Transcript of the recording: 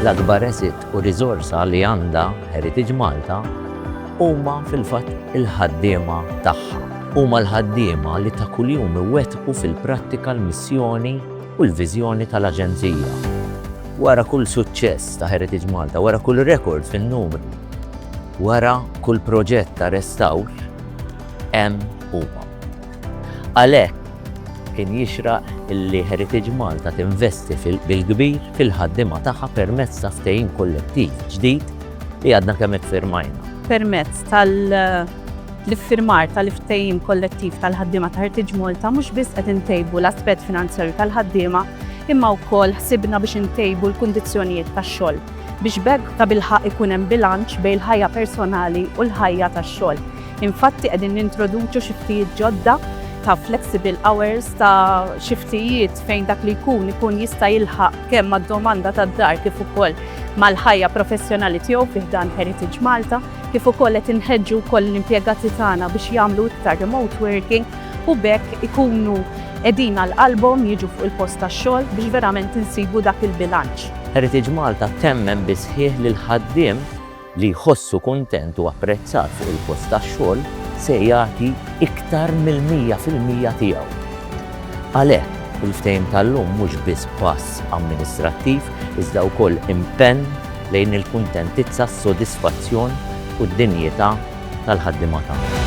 L-akbar asset u riżorsa li għandha Heritage Malta huma fil-fatt il-ħaddiema tagħha. Huma l-ħaddiema li ta' kuljum iwettqu fil-prattika l-missjoni u l-viżjoni tal-Aġenzija. Wara kull suċċess ta' Heritage Malta, wara kull rekord fin-numri, Wara kull proġett ta' restawr hemm huma. Għalhekk kien jixraq li Heritage Malta tinvesti bil-kbir fil-ħaddiema tagħha permezz ta' ftehim kollettiv ġdid li għadna kemm iffirmajna. Permezz tal-iffirmar tal-ftehim kollettiv tal-ħaddiema ta' Heritage Malta mhux biss qed intejbu l-aspett finanzjarju tal-ħaddiema imma wkoll ħsibna biex intejbu l-kundizzjonijiet tax-xogħol. biex b'hekk tabilħaqq ikun hemm bilanċ bejn il-ħajja personali u l-ħajja tax-xogħol. Infatti qegħdin nintroduċu xiftijiet ġodda ta' flexible hours ta' xiftijiet fejn dak li jkun ikun jista' jilħaq kemm mad-domanda tad-dar kif ukoll mal-ħajja professjonali tiegħu fi ħdan Heritage Malta, kif ukoll qed inħeġġu wkoll l-impjegati tagħna biex jagħmlu iktar remote working u b'hekk ikunu qegħdin għal qalbhom jiġu fuq il-post tax-xogħol biex verament insibu dak il-bilanċ. Heritage Malta temmen bis-sħiħ li l-ħaddiem li jħossu kuntent u apprezzat fuq il-post tax-xogħol se jagħti iktar mill-mija fil-mija tiegħu. Għalhekk, il-ftehim tal-lum mhux biss pass amministrattiv iżda wkoll impenn lejn il-kuntentizza, s-sodisfazzjon u d-dinjità tal-ħaddiema tagħna.